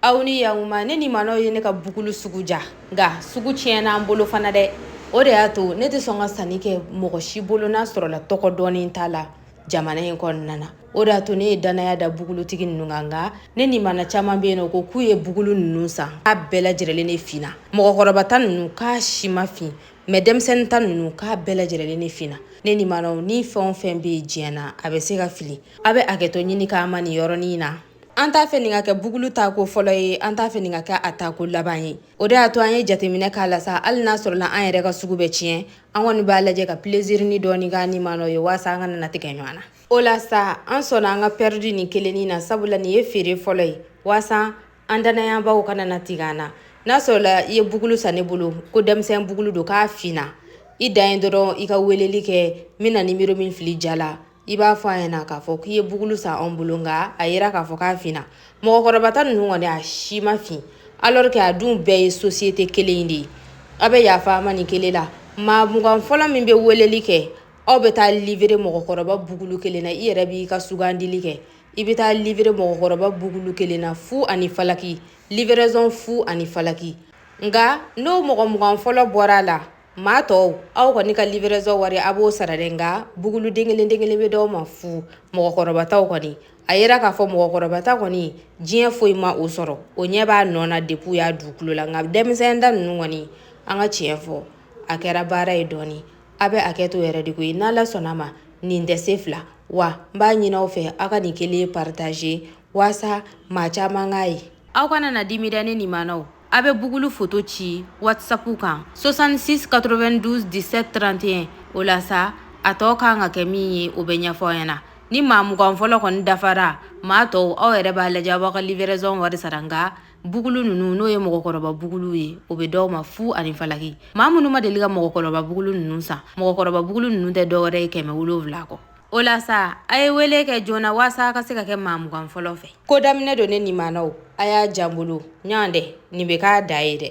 aw ni yakuma ne nimanaw ye ne ka bugulu sugu ja nka sugu tiɲɛna an bolo fana dɛ o de y'a to ne tɛ sɔn ka sanni kɛ mɔgɔ si bolo n'a sɔrɔla tɔgɔ dɔɔnin t'a la jamana in kɔnɔna na o de y'a to ne ye dannaya da bugulutigi ninnu kan nka ne nimana caman bɛ yen n'u ko k'u ye bugulu ninnu san k'a bɛɛ lajɛlen ne finna mɔgɔkɔrɔba ta ninnu k'a si ma fin mais denmisɛnnin ta ninnu k'a bɛɛ lajɛlen ne finna ne nimanaw ni fɛn o fɛn bɛ yen diɲɛ na a bɛ se ka fili a bɛ hakɛto ɲini k'a ma nin yɔrɔnin na an t'a fɛ nin ka kɛ bugulu ta ko fɔlɔ ye an t'a fɛ nin ka kɛ a ta ko laban ye o de y'a to an ye jateminɛ k'a la sa hali n'a sɔrɔla an yɛrɛ ka sugu bɛ tiɲɛ an kɔni b'a lajɛ ka pilezirinin dɔɔni k'an nimanaw ye waasa an kana na tigɛ ɲɔgɔn na o la sa an sɔnna an ka pɛridi nin kelennin na sabula nin ye feere fɔlɔ ye waasa an dannayabaw kana na tigɛ an na n'a sɔrɔla i ye bugulu san ne bolo ko denmisɛn bugulu don k'a finna i dan ye dɔrɔn i ka weleli kɛ n bɛna nimero min fili ja la i b'a fɔ an ɲɛna k'a fɔ k'i ye bugulu san anw bolo nka a yera k'a fɔ k'a finna mɔgɔkɔrɔba ta ninnu kɔni a si ma fin alors que a dun bɛɛ ye société kelen de ye aw bɛ yafa an ma nin kelen la maa mugan fɔlɔ min bɛ weleli kɛ aw bɛ taa livré mɔgɔkɔrɔba bugulu kelen na i yɛrɛ b'i ka sugandili kɛ i bɛ taa livré mɔgɔkɔrɔba bugulu kelen na fu ani falaki livraison fu ani falaki nka n'o mɔgɔ mugan fɔlɔ bɔra a la maa tɔw aw kɔni ka livraison wari a b'o sara dɛ nka bugulu den kelen den kelen bɛ d'aw ma fu mɔgɔkɔrɔbataw kɔni a yera k'a fɔ mɔgɔkɔrɔbata kɔni diɲɛ foyi ma o sɔrɔ o ɲɛ b'a nɔ na depuis a dugukolo la nka denmisɛn ta ninnu kɔni an ka tiɲɛ fɔ a kɛra baara ye dɔɔni a bɛ hakɛto yɛrɛ de ko ye n'ala sɔnna ma nin tɛ se fila wa n b'a ɲini aw fɛ aw ka nin kelen partager waasa maa caman k'a ye aw kana na dimi dɛ ne nimanaw A bɛ bugulu foto ci wasapu kan soixante-six quatre-vingt-douze dix-sept trente et un o la sa a tɔ ka kan ka kɛ min ye o bɛ ɲɛfɔ i ɲɛna ni maa mugan fɔlɔ kɔni dafara maa tɔw aw yɛrɛ b'a lajɛ aw b'aw ka livraison wari sara nka bugulu ninnu n'o ye mɔgɔkɔrɔba bugulu ye o bɛ d'aw ma fu ani falaki maa minnu ma deli ka mɔgɔkɔrɔba bugulu ninnu san mɔgɔkɔrɔba bugulu ninnu tɛ dɔwɛrɛ ye kɛmɛ wolonwula kɔ O la sa a ye wele kɛ joona waasa a ka se ka kɛ maa mugan fɔlɔ fɛ ko daminɛ don ne nimanaw a y'a jan bolo ɲɔgɔn dɛ nin bɛ k'a da ye dɛ